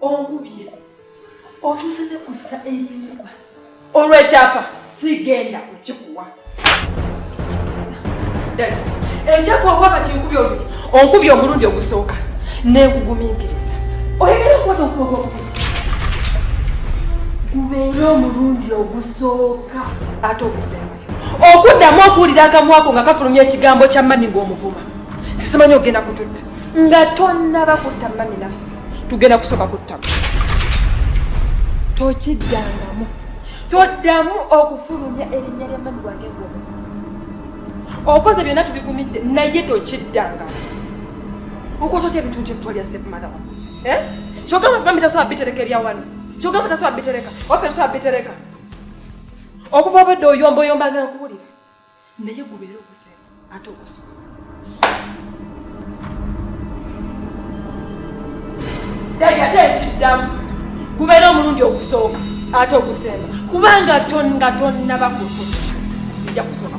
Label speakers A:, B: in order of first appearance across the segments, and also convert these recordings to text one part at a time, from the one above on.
A: onkubye otuuse ne ku ssa erinkuba olw'ekyapa sigenda kukikuwa dadi ekyapa oba bakinkubye oluyi onkubye omulundi ogusooka nenkugumiikiriza oyagala okukwata okuba gwokubi gubeere omulundi ogusooka ate ogusembayo okuddamu okuwulira akamwako nga kafulumya ekigambo kya mani ng'omuvuma nti simanyi ogenda kututta nga tonnaba kutta mami naffe tugenda kusooka kuttama tokiddangamu toddamu okufulumya erinnya lya mami wange ng'omu okoze byonna tubigumidde naye tokiddangamu okwata otya ebintu nti ebitwalya step mother wa eh? kyogamba mami tasobola bitereka ebya wano kyogamba tasobola bitereka ofe tasobola bitereka okuva obwedde oyombaoyombanga nkuwulira naye gubeera okusema ate okusuusa dadi ate nkiddamu gubeera omulundi ogusooka ate ogusemba kubanga nga tonnaba kutu nja kusoma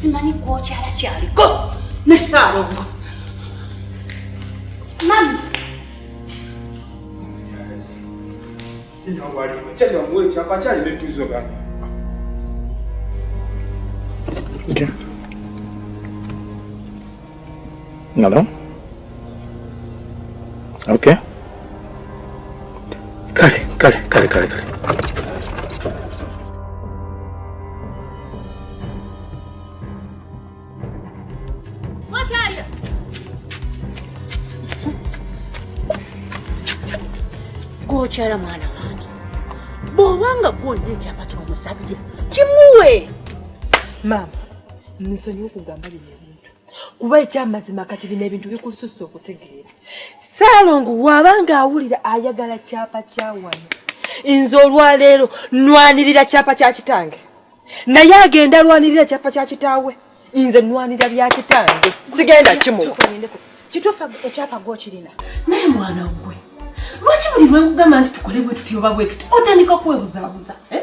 B: simanyi kwokyala kyaliko ne saalongo mami
C: Yeah. Hello? Okay. Kale, kale, kale, kale, kale.
B: Gochara mwana wange bw'oba nga gwolina ekyapa ky'omusabire kimuwe
A: maama nsonyiwa okugamba bino ebintu kuba ekyamazima kati bino ebintu bikususse okutegeera saalongo waabanga awulira ayagala kyapa kyawano nze olwaleero nwanirira kyapa kya kitange naye agenda alwanirira kyapa kya kitaawe nze nwanira bya kitange sigenda kimuwa kituufu
B: ekyapa gwokirina naye mwana gwe lwaki buli lwekugamba nti tukole bwetuti oba bwetuti otandika kwebuzaabuza eh?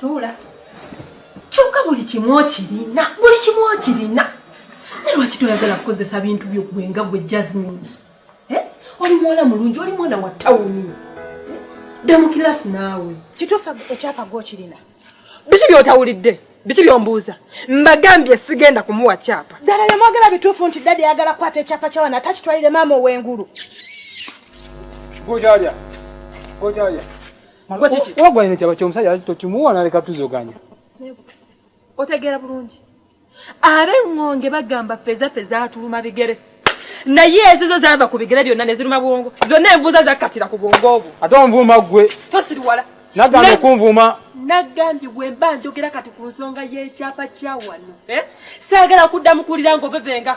B: Tuula. Kyokka buli kimu okirina, buli kimu okirina. Naye lwaki toyagala kukozesa bintu byo gwe nga gwe Jasmine? Eh? Oli mwana mulungi, oli mwana wa tawuni. Eh? Dda mu kilaasi naawe. Kituufu ekyapa gwe okirina. Biki
A: by'otawulidde? Biki by'ombuuza? Mbagambye sigenda kumuwa kyapa. Ddala bye mwagala bituufu
B: nti dadi ayagala kukwata ekyapa kya wano ate akitwalire maama ow'engulu.
D: Gojaalya. Gojaalya. Mama kiki? Wagwa ine chaba chomusajja ati tokimuwa naleka tuzoganya.
A: Otegera bulungi. Abe ngonge bagamba peza peza atuluma bigere. Naye ezizo zava ku bigere byonna ne ziruma bwongo. Zonna envuza zakatira ku bwongo obwo. Ate onvuma gwe.
D: Tosiriwala.
A: Nagambye kunvuma.
D: Nagambye gwe
A: mba njogera kati ku nsonga y'ekyapa kya wano. Eh? Saagala kuddamu kuwulira ng'obebenga.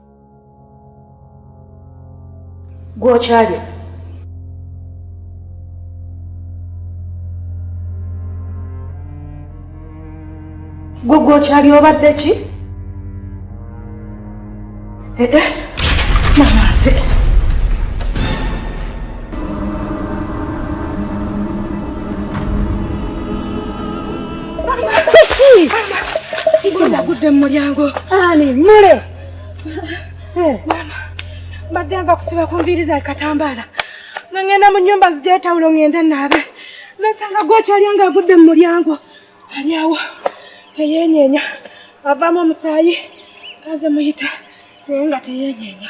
B: gwokyalya gwe gwokyali obadde ki ee eh, eh, mamaze kiki agudde mu mulyango ani mule Mama, mbadde nva kusiba ku nviiri za katambaala nga ngenda mu nnyumba zigyetawulo ngende naabe nasanga gwokyalya nga agudde mu mulyango ali awo teyenyeenya avaamu omusaayi kanze muyita naye nga teyenyeenya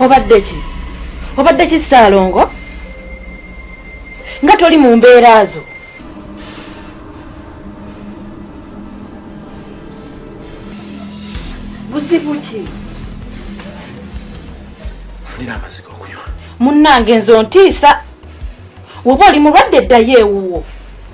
B: obadde ki obadde ki ssaalongo nga toli mu mbeera zo buzibu ki
C: fulira amaziga okunywa munnange nze
B: ontiisa woba oli mulwadde eddayo ewuwo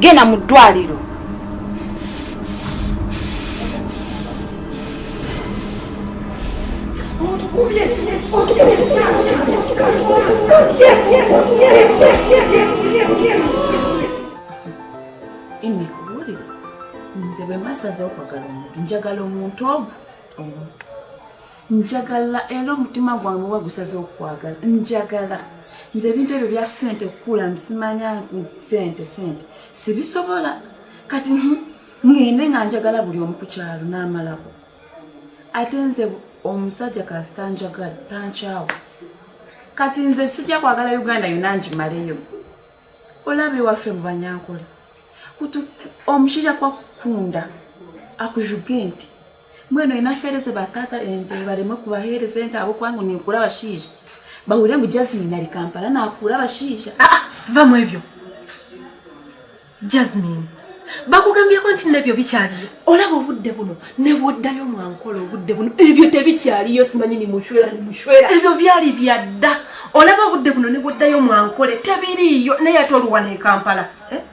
B: genda mu ddwaliro imikubuulire nze bwe masaze okwagala omuntu njagala omuntu omu omu njagala era omutima gwange oba gusaze okukwagala njagala nze ebintu ebyo bya sente kukula nsimanya sente sente sibisobola kati ngende nga njagala buli omu ku kyalo n'amalako ate nze omusajja kasita njagala tankyawo kati nze sijja kwagala uganda yona njimaleyo olaba ewaffe mu banyankole omushaija kwakukunda akujugenti Mweno inafereze batata ente barimo kubahereza ente abo kwangu ni ukura bashije. Bahurira mu Jasmine ari Kampala na akura bashije. Ah, ah, va mu ebyo.
A: Jasmine. Bakugambye ko nti nebyo bikyali. Ola bo budde buno ne bodda yo mwankolo budde buno. Ebyo te bikyali yo simanyi ni mushwera ni mushwera. Ebyo byali byadda. Ola bo budde buno ne bodda yo mwankole te biri yo ne yatolu wane Kampala. Eh?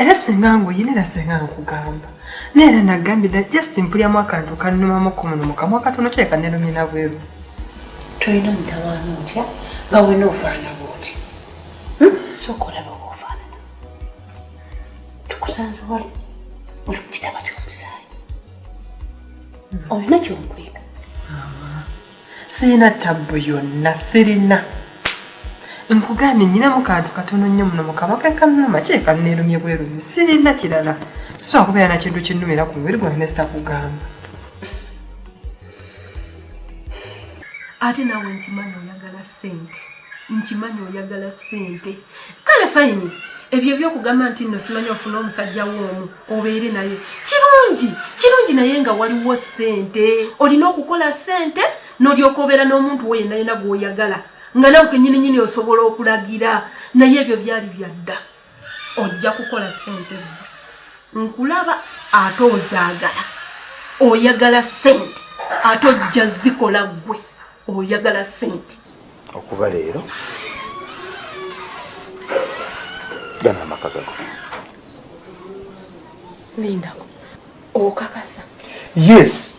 A: era senga nguyina era senga nkugamba naye era nagambira just mpulyamu akantu kannumamu ku muno mukamwa katono kyeka nelumina bweru tolina
B: mutawaana otya nga wena ofaana bwoti hmm? soka olaba oba ofaanana tukusanze wali oli mukitaba kyomusaayi olina kyonkwiga
A: sirina tabbu
B: yonna
A: sirina nkugambye nyinamu kantu katono nnyo muno mukabaka kanuma kyekanneerumye bwerumi sirina kirala sisobola kubeera na kintu kinnumira ku mubiri gwange nesitakugamba
B: ate nawe nkimanyi oyagala sente nkimanyi oyagala sente kale fayini ebyo ebyokugamba nti nno simanyi ofuna omusajja woomu obeere naye kirungi kirungi naye nga waliwo sente olina okukola sente nolyoka obeera n'omuntu wo yenayena gwoyagala nga nawe kenyini nyini osobola okulagira naye ebyo byali byadda ojja kukola sente nkulaba ate ozaagala oyagala sente ate ojja zikola gwe oyagala sente okuva leero
C: gana amaka gago
B: lindako okakasa yes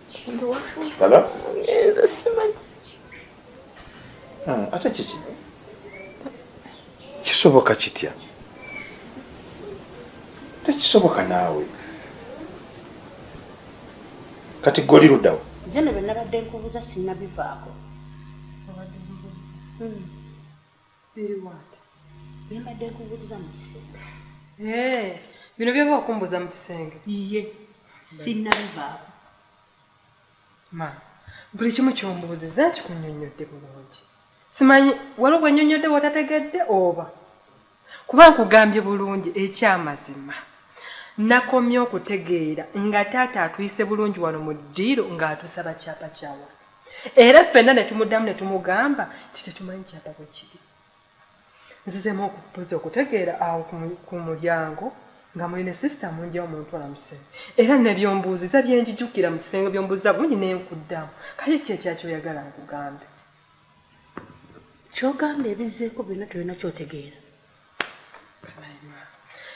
C: Hello?
E: Ah,
C: ate kiki kisoboka kitya tekisoboka naawe kati goli ludawo jeno byenabadde
F: nkubuuza sinabivaako hmm.
A: Biri wange. Bye mbadde
F: nkubuuliza mu kisenge. Ee,
A: bino by'oba okumbuuza mu kisenge? Iye,
F: sinnabivaako.
A: Ma, buli kimu ky'ombuuzizza nkikunnyonnyodde bulungi. Simanyi waliwo gwe nnyonnyodde w'otategedde oba? Kuba nkugambye bulungi eky'amazima. Nakomye okutegeera nga taata atuyise bulungi wano mu ddiiro ng'atusaba kyapa kya wano. era ffenna ne tumuddamu ne tumugamba nti tetumanyi kyadda bwe kiri nzizemu okubuza okutegeera awo ku mulyango nga muli ne sisita munja omuntu amusee era nebyombuuziza byenjijukira mu kisenge byombuuziza bungi naye nkuddamu kati kiki ekyakyoyagala nkugambe
F: kyogamba ebizeeko byonna tolina kyotegeera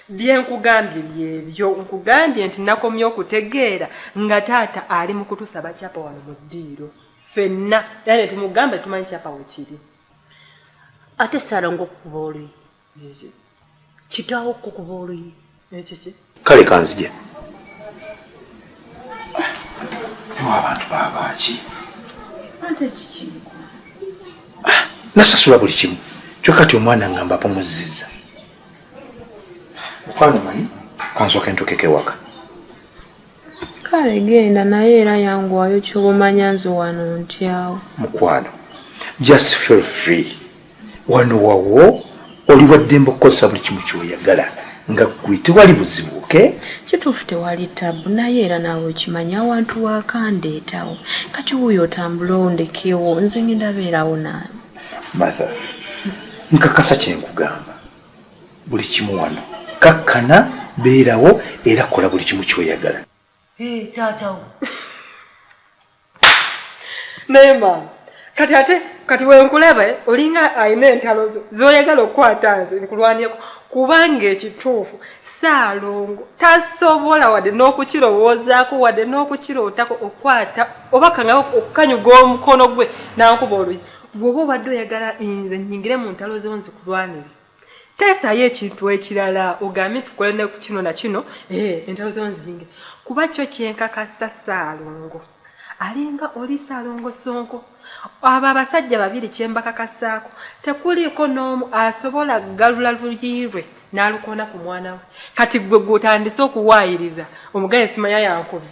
A: bye nkugambye byebyo nkugambye nti nakomye okutegeera nga taata ali mu kutusaba kyapa wano mu ddiiro fenna era ne tumugamba tumanyi kyapa wekiri
F: ate salongo okukuba oluyi kitaawo okukuba oluyi
A: kale kanzije
C: ewa abantu babaaki
B: ah, nasasula
C: buli kimu kyoka ti omwana ngamba pumuzziza mukwano manyi kansooka entukeko ewaka kale
E: genda naye era yanguwayo kyobumanya nze wano ntyawo mukwano
C: just feel free wano wawo oli waddembe okukozesa buli kimu kyoyagala nga gwe tewali buzibu oke kituufu tewali
E: tabu naye era naawe okimanyi awantu wakandeetawo kati wuyo otambula ondekewo nze ngenda beerawo naani matha
C: nkakasa kyenkugamba buli kimu wano kakkana beerawo era kola buli kimu kyoyagala Hey, taata
F: wo.
A: Naye maama, kati ate kati wenkulaba eh, olinga alina entalo zo zoyagala okukwata nze nkulwanirako kubanga ekituufu saalongo tasobola wadde n'okukirowoozaako wadde n'okukirootako okukwata oba kangaba okukanyuga omukono gwe nankuba oluyi gwoba obadde oyagala nze nyingire mu ntalo zo nzikulwanire Teesayo ekintu ekirala ogambye tukole ne ku kino na kino eh, entalo zo nzinge kuba kyo kyenkakasa Ssaalongo alinga oli Ssaalongo Ssonko. Abo abasajja babiri kye mbakakasaako tekuliiko n'omu asobola kugalula luyi lwe n'alukoona ku mwana we. Kati ggwe gw'otandise okuwaayiriza omugaye simanya yankubye.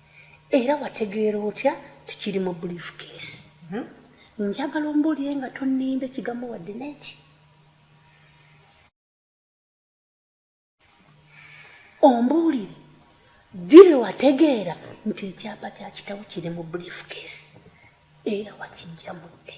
F: era wategeera otya nti kiri mu briefcase hmm? njagala ombuulire nga tonnimba ekigambo wadde n'eki ombuulire ddire wategeera nti ekyapa kya kitawo kiri mu briefcase era wakijja mutti